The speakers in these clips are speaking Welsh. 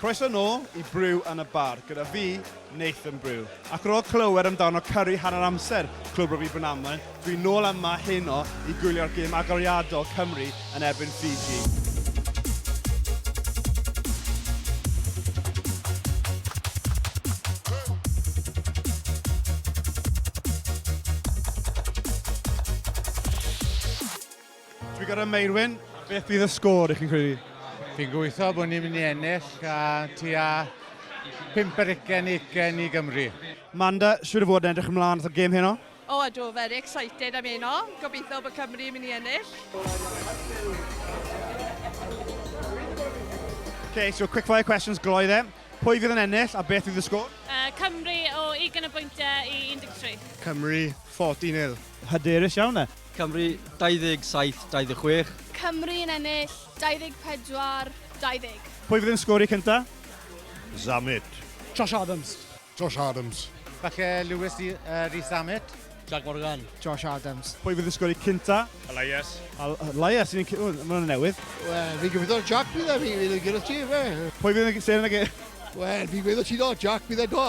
Croeso nôl i Brew yn y Bar gyda fi, Nathan Brew. Ac ar ôl clywed amdano Curry hanner amser Clwb Rygbi Brynaman, dwi nôl yma heno i gwylio'r gêm agoriadol Cymru yn erbyn Fiji. Dwi'n gorau Meirwyn, beth bydd y sgôr i chi'n credu? Fi'n gweithio bod ni'n mynd i ennill a ti a pimp yr ugen ugen i Gymru. Manda, siwr o fod yn edrych ymlaen at y gêm heno? O ydw, very excited am heno. Gobeithio bod Cymru yn mynd i ennill. Ok, so quick fire questions gloi dde. Pwy fydd yn ennill a beth fydd y sgôr? Uh, Cymru o 20 o bwyntiau i 13. Cymru 40 nil. Hyderus iawn e. Cymru, 27, 26. Cymru yn ennill, 24, 20. Pwy fydd yn sgori cynta? Zammit. Josh Adams. Josh Adams. Falle Lewis Rees Zammit. Jack Morgan. Josh Adams. Pwy fydd yn sgori cynta? Elias. Elias, sy'n yn... Mae'n hwnna'n newydd. Wel, fi'n gobeithio Jack bydd e, fi'n yn gyda ti, fe. Pwy fydd yn seren ag e? Wel, fi'n gweithio ti do, Jack bydd e do.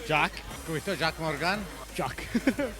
Jack. Gweithio Jack Morgan. Jack.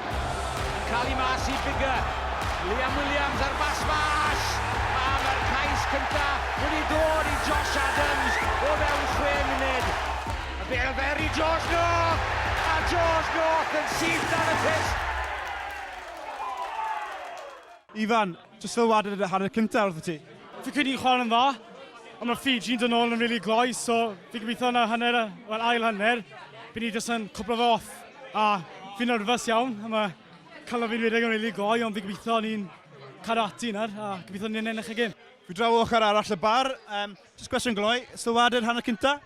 Yn cael ei mas i Biggar. Liam Williams ar bas fas! A mae'r cais cynta wedi dod i Josh Adams o fewn chwe munud. A bêl fer i George North! A George North yn syth dan y pyst! Ifan, Jyst sylwade ar y hanner cynta wrth y tŷ. Fi'n credu ni'n chwarae'n dda, ond mae Fiji'n dod nôl yn rili gloi, so fi'n gobeithio yn y hanner, wel ail hanner, bydd ni jyst yn cwplo fe off. A fi'n nyrfys iawn, a mae calon fi'n rhedeg yn rili gloi, ond fi'n gobeithio ni'n cadw ati nawr, a gobeithio ni'n ennill y gêm. Fi draw o ochr arall y bar, jyst cwestiwn gloi, sylwade'r hanner cynta?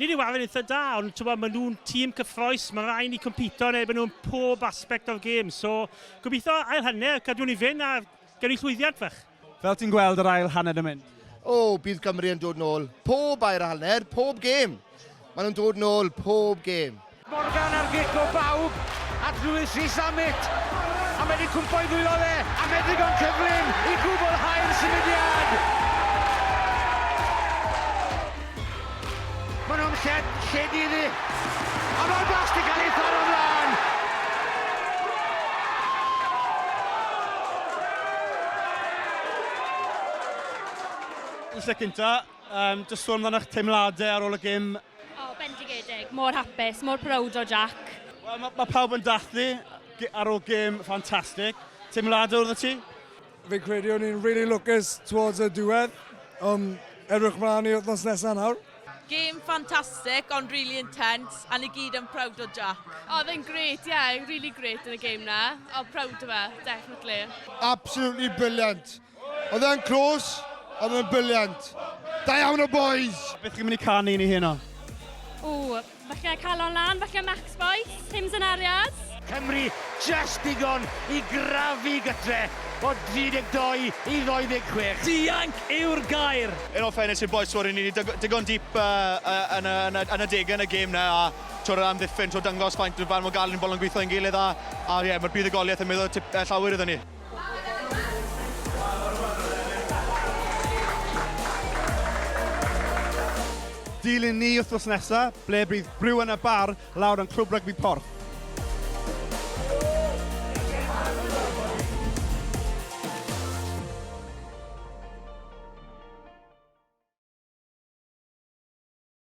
Nid yw Alun eitha da, ond tybod, maen nhw'n tîm cyffroes, mae rhaid ni compito yn erbyn nhw'n pob aspect o'r gêm. So, gobeithio ail hanner, cadw ni fynd a gawn ni llwyddiant fach. Fel ti'n gweld yr ail hanner yn mynd? O, bydd Cymru yn dod nôl pob air hanner, pob gêm! Maen nhw'n dod nôl pob gêm. Morgan ar gic o bawb at Lewis Rees-Zammit a mae wedi cwmpo i ddwylo fe a mae'n ddigon cyflym i gwblhau'r symudiad! Maen nhw'n lle, lle di iddi. A mae'r blas di cael ei tharo mlaen! Yn lle cynta, um, jyst sôn amdano'ch teimladau ar ôl y gym O, bendigedig. Mor hapus, mor prowd o Jack. Wel, mae ma pawb yn dathlu ar ôl gêm ffantastig. Teimladau wrth y ti? Fi'n credu o'n i'n really lwcus towards y diwedd. Um, edrych mlaen i wythnos nesaf nawr. Game fantastic, ond really intense, a ni gyd yn proud o Jack. Oh, oedd e'n great, yeah, really great yn y game na. Oh, proud o fe, definitely. Absolutely brilliant. Oedd e'n clws, ond oedd e'n brilliant. Da iawn o boys! Beth chi'n mynd i canu i ni heno? Ww, falle calon lan, falle Max Boyce, Tim Zenariad. Cymru just digon i grafu gytre o 32 i 26. Dianc yw'r gair! In all fairness i'r bois, twr, ni wedi dygw- digon deep uh, uh, yn, y, yn, y, yn y degau yn y gêm na, a twr yr amddiffyn, twr dangos faint o fan mor galed ni'n bod yn gweithio yn gilydd, a, a ie, mae'r buddugoliaeth yn meddwl tip, uh, llawer iddyn ni. Dilyn ni wythnos nesa, ble bydd Brew yn y Bar lawr yn Clwb Rygbi Porth.